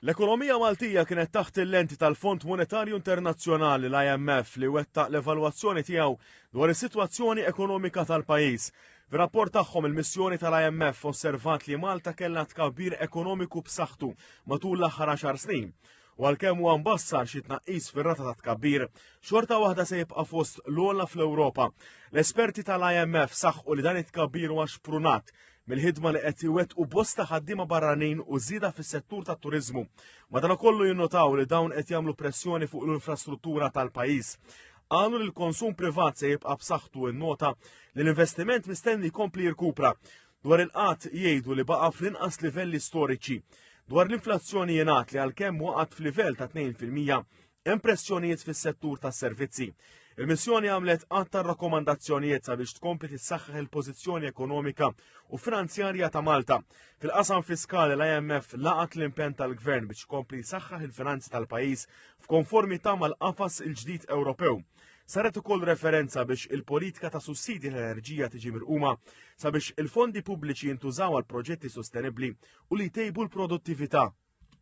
L-ekonomija Maltija kienet taħt il-lenti tal-Fond Monetarju Internazzjonali l-IMF li wettaq l-evalwazzjoni tiegħu dwar is-sitwazzjoni ekonomika tal-pajjiż. Fir-rapport tagħhom il-missjoni tal-IMF osservat li Malta kellha tkabbir ekonomiku b'saħħtu matul l-aħħar għaxar snin u għalkemm huwa mbassar xi tnaqqis fir-rata ta' tkabbir, xorta waħda se jibqa' fost l-ogħla fl-Ewropa. L-esperti tal-IMF saħħu li dan it-tkabbir huwa xprunat mill-ħidma li qed iwettqu bosta ħaddiema barranin u żieda fis-settur tat-turiżmu. Madankollu jinnotaw li dawn qed jagħmlu pressjoni fuq l-infrastruttura tal-pajjiż. Qalu li l-konsum privat se jibqa' b'saħħtu n-nota li l-investiment mistenni jkompli jirkupra Dwar il-qgħad jgħidu li baqa' fl-inqas livelli storiċi. Dwar l-inflazzjoni jingħad li għalkemm waqgħet f'livell ta' 2 fil-mija, hemm pressjonijiet fis-settur tas-servizzi. Il-missjoni għamlet għadd ta' rakkomandazzjonijiet sabiex tkompli tissaħħaħ il-pożizzjoni ekonomika u finanzjarja ta' Malta. Fil-qasam fiskali l-IMF laqat l-impenn tal-gvern biex kompli jsaħħaħ il-finanzi tal-pajjiż f'konformità mal-qafas il-ġdid Ewropew. Saret ukoll referenza biex il-politika ta' sussidji tal-enerġija tiġi mirquma sabiex il-fondi pubbliċi jintużaw għal proġetti sostenibbli u li jtejbu l-produttività.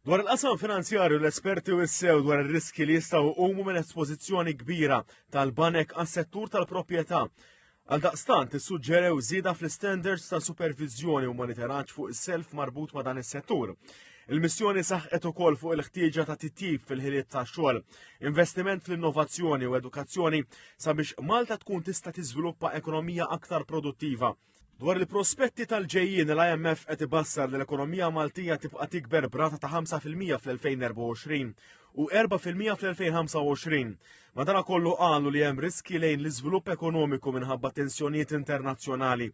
Dwar il-qasam finanzjarju l-esperti u sew dwar ir-riski li jistgħu jqumu minn espożizzjoni kbira tal-banek għas-settur tal-proprjetà Għaldaqstant issuġġerew żieda fl-istandards ta' superviżjoni u monitoraġġ fuq is-self marbut ma' dan is-settur. Il-missjoni saħqet ukoll fuq il-ħtieġa ta' titjib fil-ħiliet ta' xogħol, investiment fl-innovazzjoni u edukazzjoni sabiex Malta tkun tista' tiżviluppa ekonomija aktar produttiva. Dwar il-prospetti tal-ġejjin l-IMF qed ibassar li l-ekonomija Maltija tibqa' tikber brata ta' 5% fl-2024 u erba' fil-mija fl-2025. Madankollu qalu li hemm riskji lejn l-iżvilupp ekonomiku minħabba tensjonijiet internazzjonali,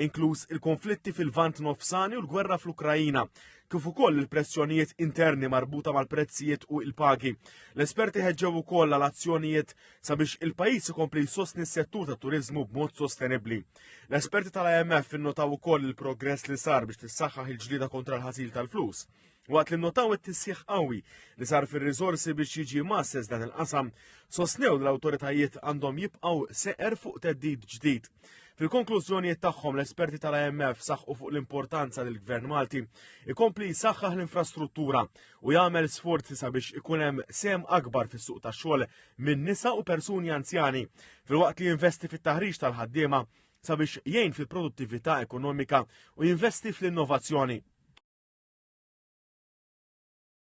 inkluż il-konflitti fil-Vant Nofsani u l-gwerra fl-Ukrajina, kif ukoll il-pressjonijiet interni marbuta mal-prezzijiet u il-pagi. L-esperti ħeġġew ukoll għal azzjonijiet sabiex il-pajjiż ikompli jsostni s-settur tat-turiżmu b'mod sostenibbli. L-esperti tal-IMF innotaw ukoll il-progress li sar biex tissaħħaħ il-ġlieda kontra l-ħasil tal-flus. Waqt li nnotaw it-tisħiħ qawwi li sar fir-riżorsi biex jiġi masses dan il-qasam, sostnew li l-awtoritajiet għandhom jibqgħu seqer fuq teddid ġdid. Fil-konklużjonijiet tagħhom l-esperti tal-IMF saħqu fuq l-importanza li l-Gvern Malti ikompli jsaħħaħ l-infrastruttura u jagħmel sforzi sabiex ikun hemm sem akbar fis-suq tax-xogħol minn nisa u persuni anzjani filwaqt li jinvesti fit-taħriġ tal-ħaddiema sabiex jgħin fil-produttività ekonomika u jinvesti fl-innovazzjoni.